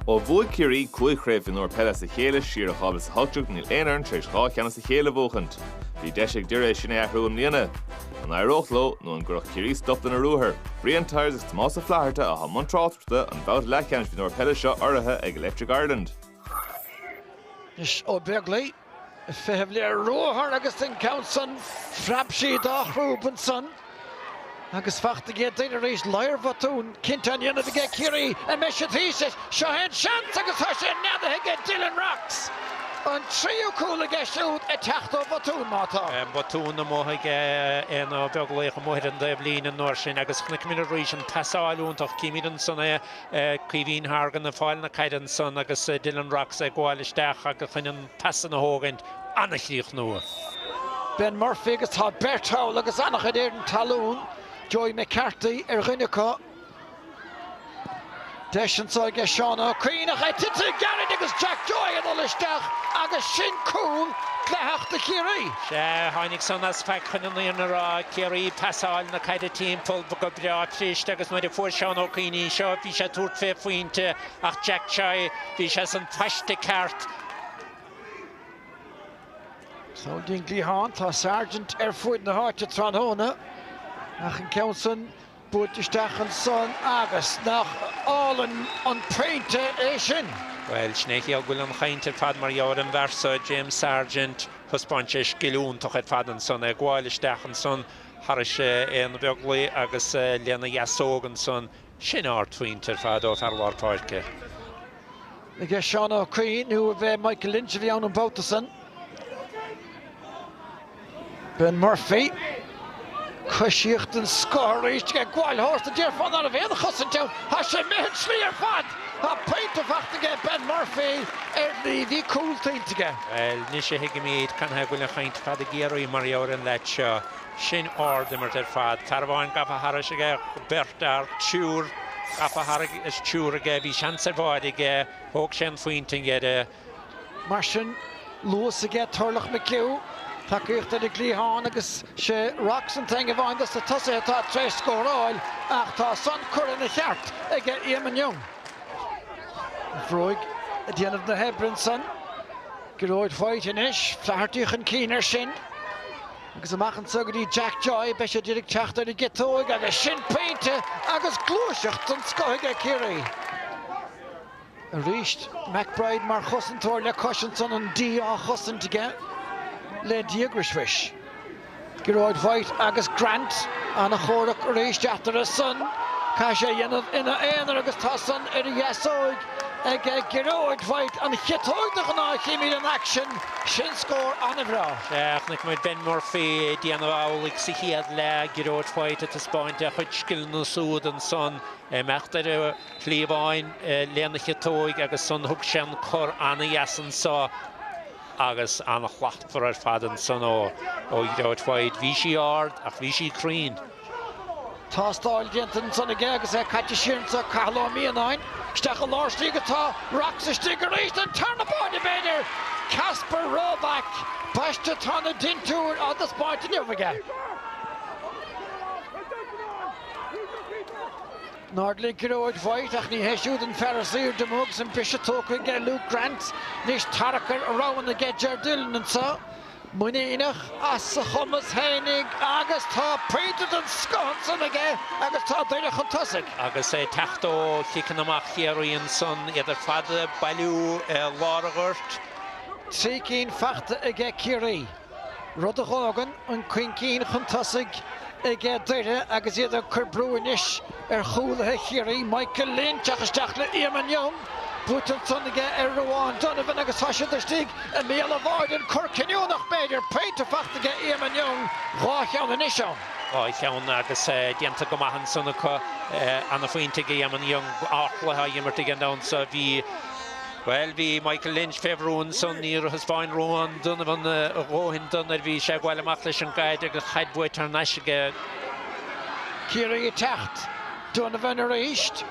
Ó bhuaigh Ciarraí cúig Chraobh Mhionúir Peile as a chéile siar in 2018 níl aon fhoireann tar éis dhá cheann as a chéile a bhuachaint. Bhí deis ag Doire é sin a athrú i mbliana. An éireodh leo nó an gcuirfeadh Ciarraí stop lena ruathar? Brian Tyers agus Tomás Ó Flatharta atá i mbun tráchtaireachta an bhabhta leathcheannais mhionúir peile seo urraithe ag Electric Ireland. Is Ó Beaglaoich. feitheamh le ruathar agus den gceann san phreab sí dá chrúb ansan agus fachta aige Doire arís ladhar bhotún cinnte á ndéanamh aige Ciarraí a mbeidh siad thíos leis. Seo é an seans agus tá sé neadaithe aige Dylan Rocks! An tríú cúl aige siúd ag teacht ó bhotún, má tá. Botún amuigh aige Aodhna Beaglaoich amuigh ar an dtaobh líne an uair sin agus chonaic muid arís an phasáil iontach címid ansan é Caoimhín Hargan ag fáil na caide ansan agus Dylan Rocks ag gabháil isteach agus chun an pas san a thógaint. An-chríochnú. Ben Murphy agus tá beirt thall agus an-chuid éadan talún. Joey McCarthy ar dhuine acu. Deis anso aige Seán Ó Cuinn ach é tite gairid agus Jack Joy ag dul isteach agus sin cúl dleathach do Chiarraí. Sea, tháinig san as faic chun an fhírinne a rá, Ciarraí ag pasáil na caide timpeall go breá cliste agus nuair a fuair Seán Ó Cuinn í seo, bhí sé ag tabhairt fé phointe ach Jack Joy, bhí sé san phaiste ceart. Siúd í ón gcliathán, tá Sargent ar fuaid na háite tráthnóna ach an ceann san, Buailte isteach ansan agus nach álainn an pointe é sin! Bhuel, sin é an chiall go bhfuil an chaint ar fad mar gheall ar an bhfear so, James Sargent. Thaispeáin sé scil iontach ar fad ansan, ag gabháil isteach ansan thairis Aodhna Beaglaoich agus lena dheasóg ansan. Sin ardphointe ar fad ó fhear lár páirce. Aige Seán Ó Cuinn nó ab é Michael Lynch a bhí ann an bhabhta san. Ben Murphy. Coisíocht den scoth arís ag gabháil tharstu, déarfá ná raibh aon chosaint ann. Tá sé imithe an tslí ar fad. Tá pointe fachta aige Ben Murphy. Ar shlí, bhí cúl tuillte aige. Bhuel, anois a thuigimid canathaobh go bhfuil an chaint ar fad i gCiarraí mar gheall ar an leid seo. sin ardimirt ar fad. Fear amháin gafa thairis aige, beirt fhear, triúr gafa thairis is triúr aige. Bhí seans ar bháide aige, thóg sé an phointe i ndeireadh. Mar sin, luas aige Turlough McHugh, tacaíocht ar an gcliathán agus sé Rocks an t-aon amháin dos na tosaithe atá tar éis scóráil ach tá san curtha ina cheart ag Eamon Young. An bhróig ag déanamh na hoibre ansan. Gearóid White anois, Flaherty chun cinn air sin. Agus amach anso go dtí Jack Joy, beidh sé d'iarraidh teacht ar an gciotóig agus sin pointe agus gluaiseacht den scoth aige Ciarraí. Arís, McBride mar chosantóir le cois ansan, an D á chosaint aige le díograis mhuis. Gearóid White agus Grant an-chomhrac arís eatarthu san. Caithfidh sé a dhéanamh ina aonar agus tá san ar a dheasóig. ag Gearóid White, an chiotóg de ghnáth a chímid in aicsean sin scór an-bhreá. Chonaic muid Ben Murphy ag déanamh amhlaidh sa chéad leath, Gearóid White ag taispeáint a chuid scileanna súd ansan, imeacht ar a chliabháin lena chiotóig agus san thug sé an cor an-dheas anso agus an-shlachtmhar ar fad ansan ó Ghearóid White. Bhí sí ard ach bhí sí cruinn. Tástáil déanta ansan aige agus é caite siar go dtí Cathal Ó Mianáin. Isteach i lár istigh atá Rocks istigh arís an tarna báide, b'fhéidir! Kacper Robak, baiste, tá na dintiúir á dtaispeáint inniu aige. In airde le Gearóid White, ach ní hé siúd an fear is aoirde amuigh agus an briseadh tógtha aige ar Luke Grant. Anois tarrac ar roghanna aige Ger Dillon anso. muiníneach as a chumas fhéinig agus tá pointe den scoth ansan aige agus tá Doire chun tosaigh. Agus é ag teacht ó chiceanna amach Chiarraí ansan, iad ar fad ag bailiú i lár an ghoirt, Trí cinn fachta aige Ciarraí, rud a dh'fhágann an cúig cinn chun tosaigh aige Doire agus iad ag cur brú anois ar chúlaithe Chiarraí, Michael Lynch teacht isteach le Eamon Young. Buaite ansan aige ar Ruadhán Donovan agus tá siad istigh i mbéal an bháide, an cor cinniúnach b'fhéidir, pointe fachta aige Eamon Young, dhá cheann anois ann. Dhá cheann agus déanta go maith ansan acu, ana phointe aige Eamon Young, ardchluiche á imirt aige an domhan so, bhí, bhuel bhí Michael Lynch fé bhrú ansan, níor thaispeáin Ruadhán Donovan a dhóthain dó nuair bhí sé ag gabháil amach leis an gcaid agus an chaid buaite thar n-ais aige. Ciarraí ag teacht. Donovan arís.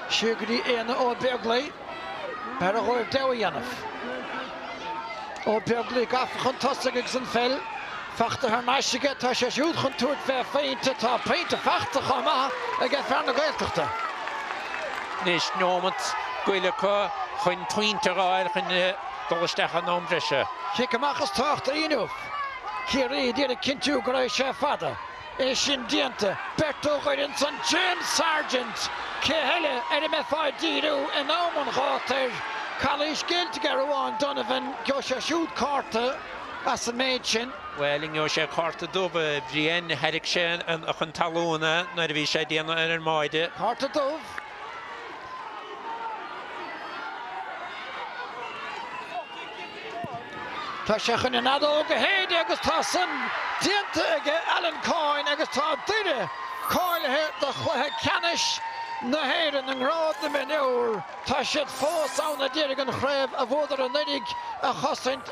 Seo go dtí Aodhna Ó Beaglaoich. B'fhearr dhóibh deabhadh a dhéanamh. Ó Beaglaoich gafa chun tosaigh agus an pheil fachta thar n-ais aige. Tá sé siúd chun tabhairt fé phointe. Tá pointe fachta chomh maith aige fear na Gaeltachta. Anois neomat go leith acu chun pointe a fháil chun dul isteach in am breise. Cic amach is tábhachtaí inniu. Ciarraí ag iarraidh cinntiú go rachaidh sé fada. É sin déanta, beirt ó dh'fhoireann son James Sargent, cé heile ar a mbeifeá ag díriú in am an ghátair? Calaois géillte aige Ruadhán Donovan, geobhaidh sé siúd cárta as an méid sin. Bhuel, an ngeobhaidh sé cárta dubh, a Bhriain? Tharraig sé é chun talúna nuair a bhí sé ag déanamh ar an mbáide. Cárta dubh? Tá sé chun an fheadóg a shéideadh agus tá san déanta aige Alan Coyne agus tá Doire cáilithe do chluiche ceannais na hÉireann i ngrád na mionúr tá siad fós ann ad iarraidh an chraobh a bhuadar anuraidh a chosaint.